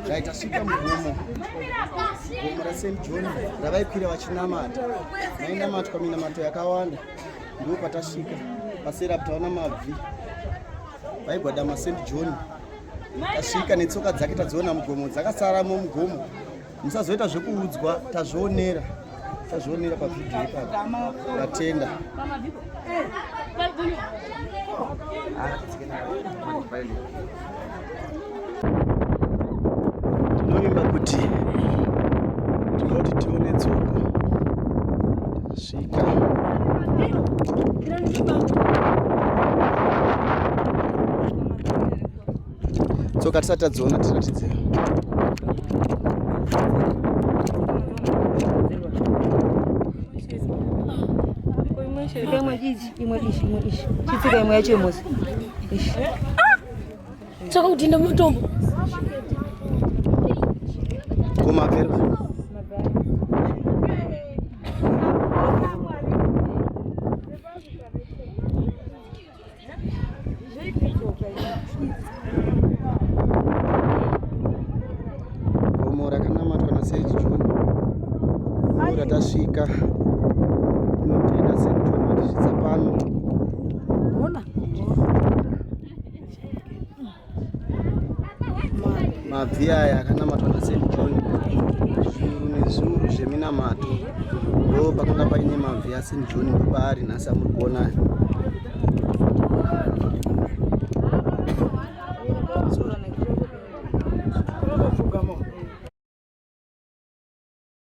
Zvaitashika mugomo gomo raSt John ravaikwira vachinamata, mainamatwa minamato yakawanda, ndipo patasvika pasera taona mabvi vaigwadama St John tasvika netsoka dzake tadziona mugomo dzakasaramo mugomo musazoita zvekuudzwa tazvionera tazvionera pavhidhiyo ipapo vatenda tinovimba kuti tinoti tione tsoka tasvika tsoka tisati tadziona tiratidze imwe ichi imwe ichi imwe ichi chitsika imwe yacho imosi ichi tsoka kuti inde mutombo kumapera Gomo rakanamatwa naSage John ura tasvika tinotenda Sage John matisvitsa pano. mabvi aya akanamatwa naSt John zviuru nezviuru zveminamato ndo pakanga paine mabvi aSt John ndopaari nhasi amuri kuona